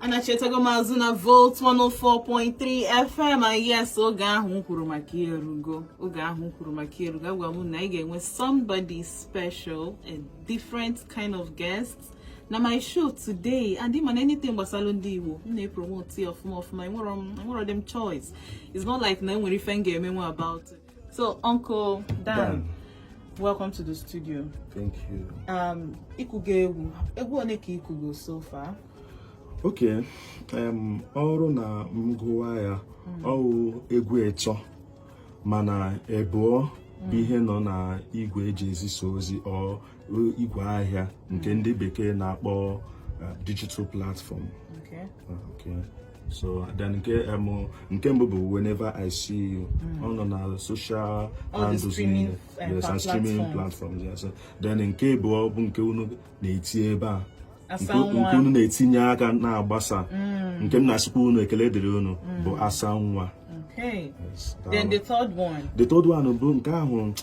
anachitago m azụ na volt 104.3 fm and yes oge ahụ m kwuru maka erugo oge ahụ m kwuru maka erugo agwa m na ị ga-enwe somebody special a different kind of guest na my show today and ị ma na anything gbasara ndị Igbo m na-epromote ọfụma ọfụma enwerọ m choice it's not like na enwere ife m ga-emenwu about it So, Uncle Dan, Dan, welcome to the studio. Thank you. Um, ịkụgo egwu. Egwu one ka ịkụgo so far? Okay. Um, ọ wụrụ na m gụwa ya, hmm. ọ wụ egwu ịtọ mana ebụọ bụ hmm. ihe nọ na igwe eji ezisa ozi or igwe ahịa nke ndị bekee na-akpọ uh, digital platform okay. Uh, okay. so then nke um, nke mbụ bụ whenever i see you hmm. ọ nọ na social handles niile uh, yes and streaming platforms yes then nke ebụọ bụ nke unu na-eti ebe a nke unu na-etinye aka na-agbasa hmm. nke m na-asịkwa unu ekele dịrị unu hmm. bụ asa nwa Okay. Yes, then the third one. The third one bụ nke ahụ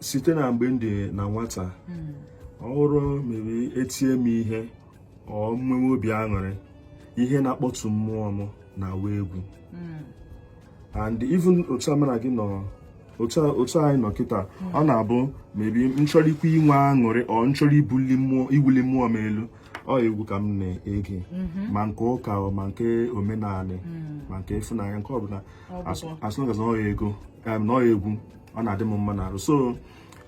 site na mgbe m dị na nwata hmm. ọ wụrụ ma e tie m ihe or m nwewe obi aṅụrị ihe na-akpọtụ mmụọ m na-awụ egwu hmm. and even otu a mụ na gị nọ otu anyị nọ kịta hmm. ọ na-abụ maybe m chọrọ ikwu inwe aṅụrị or m chọrọ ibuli mmụọ iwuli mmụọ m elu ọ egwu ka m na-ege mhm. ma nke ụka ma nke omenala hmm. ma nke ịfụnanya nke ọbụla as long as na ọ ya egwu na ọ ya egwu ọ na-adị m mma n'arụ so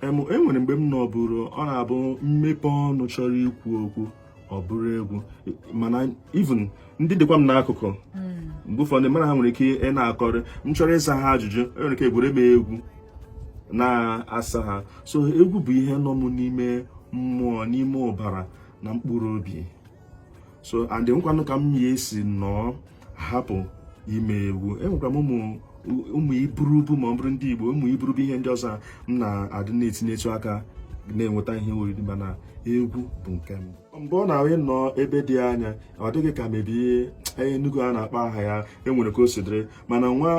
enwere mgbe m nọ ọ bụrụ ọ na-abụ m mepe ọnụ chọrọ ikwu okwu ọ bụrụ egwu mana even ndị dịkwa m n'akụkụ hmm. mgbe ụfọdụ mụ na ha nwere ike ị na-akọrị m chọrọ ịsa ha ajụjụ enwere ike egwure m egwu na-asa ha so egwu bụ ihe nọ m n'ime mmụọ n'ime ụbara na mkpụrụ obi so and enwekwanụ ka m ya esi nọọ hapụ ime egwu enwekwa m ụmụ ụmụ iburubu ma ọ bụrụ ndị Igbo ụmụ iburubu ihe ndị ọzọ m na-adị na-etinyetụ aka na-enweta ihe oriri mana egwu bụ nke m mgbe ọ na-awụ ị nọ ebe dị anya ọ dị gị ka maybe Enugu a na-akpọ aha ya enwere ka o si dịrị mana nwa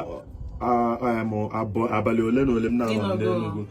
abalị ole na ole m na-anọ n'Enugu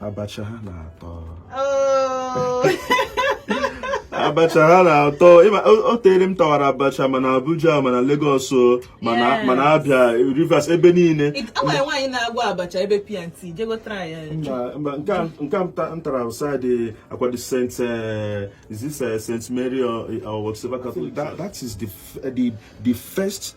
abacha ha na-atọ oh. abacha ha na-atọ o tere m tawara abacha ma na Abuja ma na Lagos ma na ma na Abia Rivers ebe niile nke m tara outside akwado St. Eh, is this eh, St. Mary or eh, Catholic that is the the first